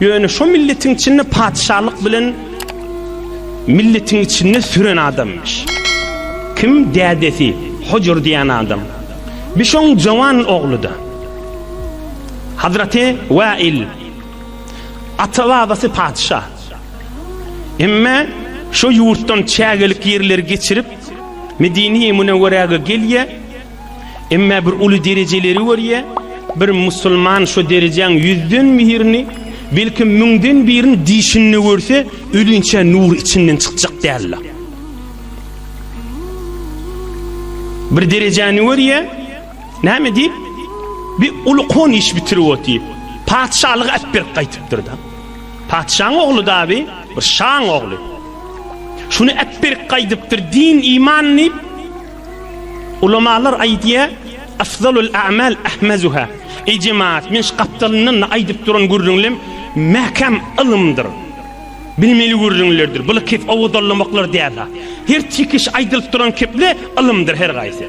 Ýöne şo milletiň içinde patyşalyk bilen milletiň içinde süren adamymyş. Kim dädesi Hojur diýen adam. Bir şoň jowan ogludy. Hazraty Wail ata babasy patyşa. Emma şo ýurtdan çägelik ýerleri geçirip Medini-Münewwerege gelýär. Emma bir uly derejeleri görýä, bir musulman şo derejäň ýüzden birini, belki müňden birini dişinde görse, ölinçä nur içinden çykjak däldi. Bir derejäni görýä, näme diýip, bir uly kon iş bitirip otyp, patyşalygy äp berip gaýtypdyr-da. Patyşaň ogly dabi, bir şaň ogly. Şuny äp berip gaýdypdyr, din, iman diýip, Ulamalar aýdýar, Afzalul a'mal ahmazuha. Eý jemaat, men şu gapdalyndan aýdyp duran gürrüňlem mäkäm ylymdyr. Bilmeli gürrüňlerdir. Bular kep owazallamaklar däl. Her çekiş aýdylyp duran keple ylymdyr her gaýsy.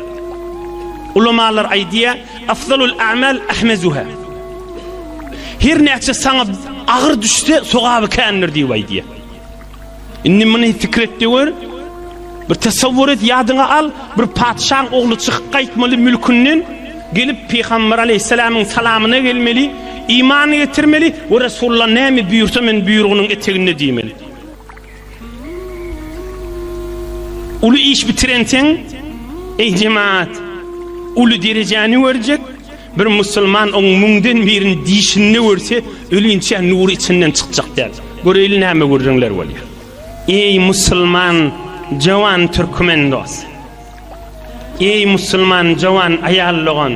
Ulamalar aýdýar, Afzalul a'mal ahmazuha. Her näçe saňa agyr düşse, sogaby kändir diýip aýdýar. Indi muny fikir etde gör. Bir tasawwur et, ýadyňa al, bir patyşaň ogly çykyp gaýtmaly mülkünden, gelip Pygamber aleyhisselamyň salamyna gelmeli, iman getirmeli we Resulullah näme buýursa men buýrugynyň eteginde diýmeli. Uly iş bitirenseň, eý jemaat, uly derejäni görjek, Bir musulman oň müňden birini dişinde görse, ölinçä nury içinden çykjak däl. Göreýli näme gürrüňler bolýar. Eý musulman jowan türkmen dos. Eý musulman jowan aýal dogan.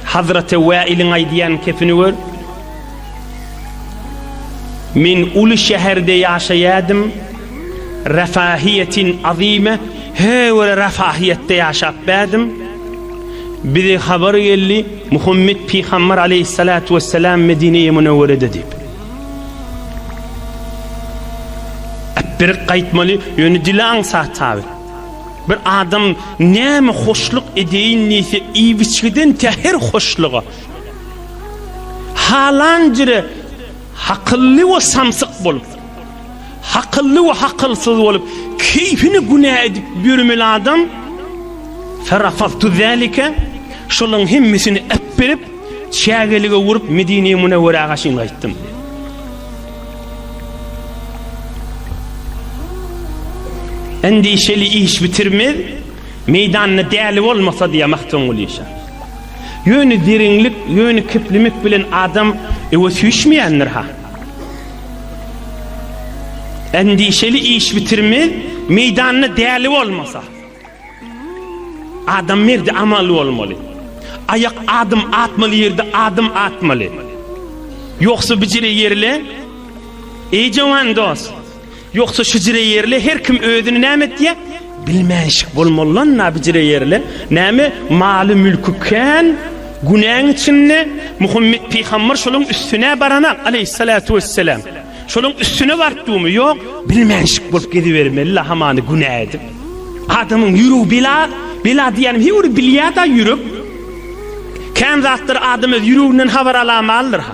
Hazraty Wäiliň aýdýan kepini gör. Men uly şäherde ýaşaýadym. Rafahiýetin azime, he wele rafahiýetde ýaşap bädim. Bize habar geldi, Muhammet pygambar aleýhissalatu wessalam Medineye Münewwerede diýip. Äpberik gaýtmaly, ýöne dili aňsat tabi. Bir adam näme hoşluk edeýin diýse, iýip-içgiden tä her hoşluga. Halan jire hakylly we samsyk bolup. Hakylly we hakylsyz bolup, keýpini günä edip ýörmeli adam, Ferafaztu zalike, şolaryň hemmesini äpberip, çägelige urup, Medine-i Münewwerege çyn gaýtdym. Endişeli iş bitirmez, meýdanda däli bolmasa diýýär Magtymguly şa. Ýöne diriňlik, ýöne keplemek bilen adam öwe süýşmeýändir ha. Endişeli iş bitirmez, meýdanda däli bolmasa. Adam merdi amaly bolmaly. Aýak adym atmaly ýerde adym atmaly. Ýogsa bijire ýerle. Eý jawan dost, Ýogsa şujire ýerli her kim özüni näme etýä bilmänşik bolmalylan na bijire ýerli näme maly mülki kän günäň içinde Muhammet pygambar şoluň üstünä barana aleýhissalatu wesselam şoluň üstüne bartdumy ýok bilmänşik bolup gezibermeli la hamany günä edip adamyň ýüregi bela bela diýänim he bir bilýada ýürek kän zatlar adam öz ýüreginden habar alamaldyr ha.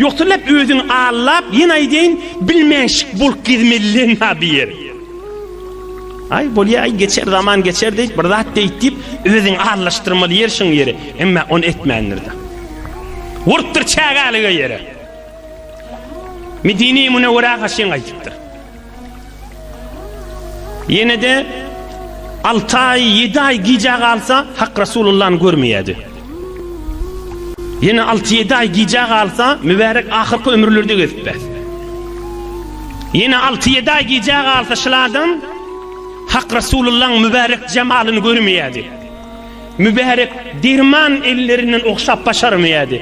Ýogsa näp özüň allap ýene aýdaýyn bilmänşik bolup gezmelileň ha bir ýer. Aý bolýa aý geçer zaman geçer diýip bir zat diýip diýip özüň allaşdyrmaly ýer şuň ýeri emma on etmändir da. Urupdyr çägälige ýere. Medine-i Münewwerä gaşyň gaýdypdyr. Ýene-de alty aý, ýedi aý gijä galsa, Hak Rasulullany görmeýärdi. Ýene alty-ýedi aý gijä galsa, mübärek ahyrky ömürlerde gezip bes. Ýene alty-ýedi aý gijä galsa, şyl adam Hak Rasulullaň mübärek jemalyny görmeýärdi. Mübärek derman ellerinden ogşap başarmaýardy.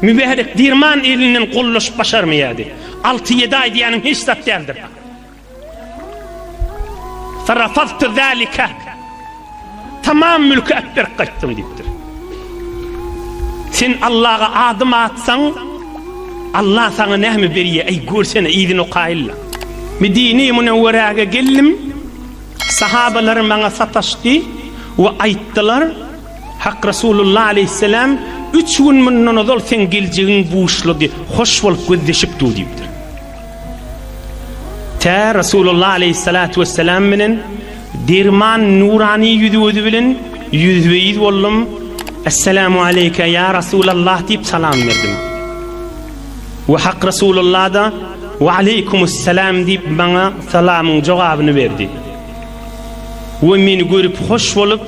Mübärek derman elinden gollaşyp başarmaýardy. Alty-ýedi aý diýýäniň hiç zat däldir. Farafaztu zalika. Tamam mülki äp berip gaýtdym diýipdir. Sen Allaha adım atsaň, Allah saňa näme berýär? Eý, görsene, yzyny okaýylla. Medine-i Münewwerege geldim. Sahabalar maňa sataşdy we aýtdylar, Hak Resulullah aleýhisselam, Üç gün mundan ozal seň geljegiň buşlady, hoş bolup gözleşip dur diýipdir. Tä Resulullah aleýhissalatu wesselam bilen derman nurany ýüzi-gözi bilen ýüzbe-ýüz boldum, Esselamu aleýke ýa Resulallah diýip salam berdim. We Hak Resulullah-da We aleýkumussalam diýip maňa salamyň jogabyny berdi. We meni görüp hoş bolup,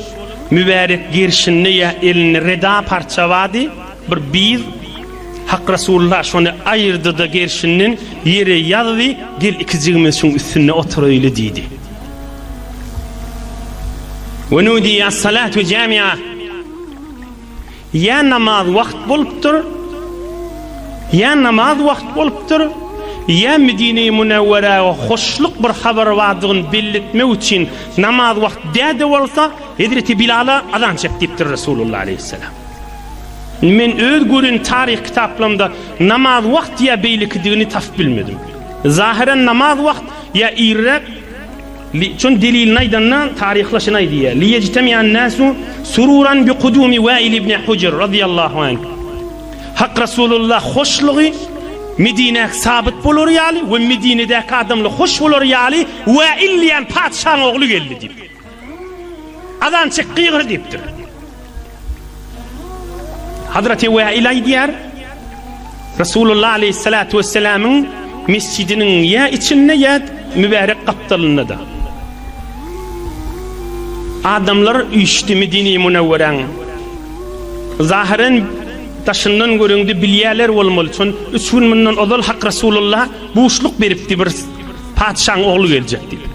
Mübärek gerşinde ýa elinde reda parça bardy, bir biz Hak Resulullah şony aýyrdy-da gerşinden ýere ýazdy, Gel ikijigimiz şuň üstünde oturaýly diýdi. Wenudiýe as-salatu jami'a. Ýa namaz wagt bolupdyr, ýa namaz wagt bolupdyr, ýa Medine-i Münewwerä hoşluk bir habar bardygyny belli etmek üçin namaz wagt dä-de bolsa, hezreti Bilala azan çek diýipdir Resulullah aleýhisselam. Indi men öz gören taryh kitaplarymda namaz wagt ýa beýlekidigini tapyp bilmedim. Zahyran namaz wagt ýa irräk, Li, şonuň delilini aýdanda, taryhla şunaý diýýär, Li ýejteme'an-näsu sururan bi kudumi Wäil ibn Hujr, razyýallahu anh, Hak Rasulullah hoşlugy Medinä sabyt bolary ýaly we Medinedäki adamlar hoş bolary ýaly Wäil diýen patyşaň ogly geldi diýip, azan çek, gygyr diýipdir. Hazreti Wa'il aýdýar, Resulullah aleyhissalatu vesselamyň mesjidiniň ýa içinde ýa mübärek gapdalynda-da. Adamlar üýşdi Medine Münewweräň. Zahiren daşyndan göreňde bilýärler bolmaly, çün üç gün mundan ozal Hak Resulullah buşluk beripdi bir patyşaň ogly geljek diýip.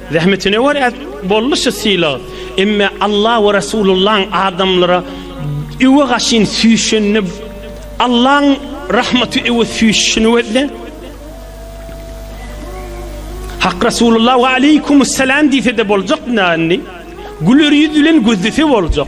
Zähmetine görä boldy şu sylag. Emme Alla we Resulullaň adamlara öwe gaşyn süýşenini Allaň rahmaty öwe süýşişini gözle. Hak Resulullah we aleykumus salam diýse-de boljak nändi? Güler ýüz bilen gözlese boljak.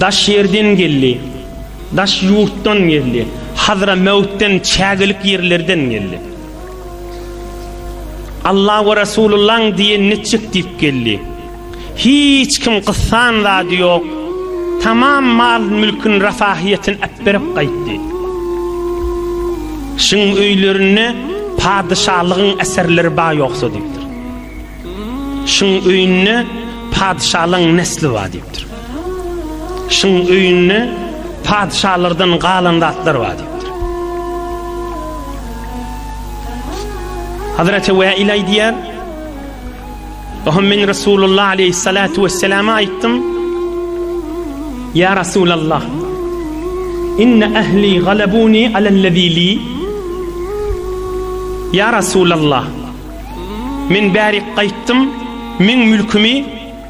Daş ýerden geldi, daş ýurtdan geldi, Hadramäwutdan, çägelik ýerlerden geldi. Alla we Rasulullaň diýen netjek diýip geldi. Hiç kim gyssan zady ýok. Tamam mal-mülkün rafahyýetini äpberip gaýtdy. Şuň öýlerinde padyşalygyň eserleri bar ýoksa diýipdir. Şuň öýünde patyşalaryň nesli bar diýipdir. Şuň öýünde patyşalardan galan zatlar bar diýipdir. Hazreti Wäil aýdýar, Oho men Resulullah aleyhissalatu vesselama aýtdym. Ya Resulallah. Inne ahli galabuni alellezili. Ya Resulallah. Men bärik gaýtdym, meň mülkümi,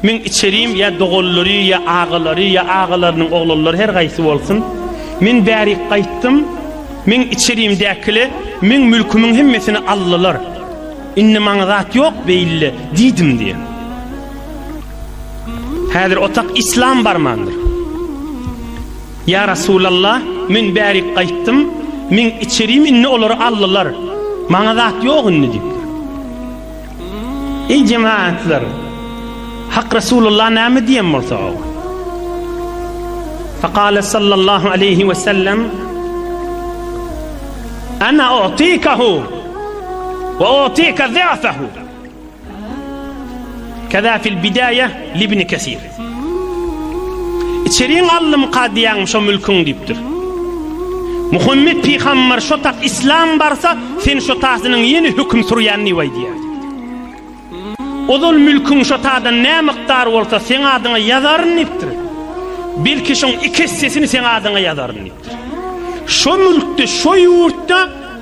meň içerim ýa doganlary ýa agalary ýa agalarynyň oglanlary her gaýsy bolsun, men bärik gaýtdym, meň içerimdäkiler meň mülkümiň hemmesini aldylar. Indi maňa zat ýok beýle diýdim diýen. Häzir otak islam barmandyr. Ýa Resulallah, men bärik gaýtdym, meň içerim indi olary aldylar, maňa zat ýok indi diýipdir. Eý jemagatlar, Hak Resulallah näme diýen bolsa o. Fakale sallallahu aleyhi ve sellem Ana otikahu ve otika zafehu Kaza fil bidaýa libni kesir. İçeriň allym kadyýaň şo mülküň diýipdir. Muhammet pygambar şo tak islam barsa sen şo tasynyň ýene höküm sürýän diýip aýdýar. Ozal mülküň şo tadan ne mykdar bolsa sen adyňa ýazaryn diýipdir. Belki şoň iki essesini sen adyňa ýazaryn diýipdir. Şo mülkde şo ýurtda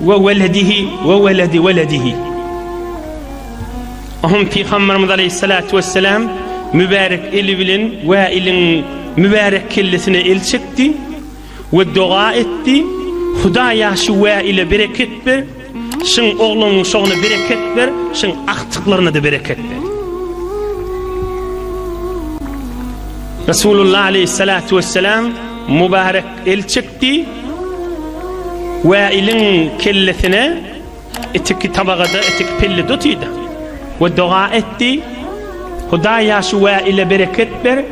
We weledihi we weledi weledihi. Onuň Pygamberimiz aleýhissalatu wesselam mübärek eli bilen Wailiň mübärek kellesine el çekdi we doga etdi, Hudaýa şu Waile bereket ber, şyň oglunyň şoguna bereket ber, şyň agtyklaryna-da bereket ber. Resulullah aleýhissalatu wesselam mübärek el çekdi. Gitdi. Wäiliň kellesine itiki tabagada, itiki pellede otyrdy. We doga etdi. Hudaý ýa şu Wäile bereket ber,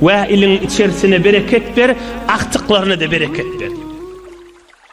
Wäiliň içerisine bereket ber, agtyklaryna-da bereket ber.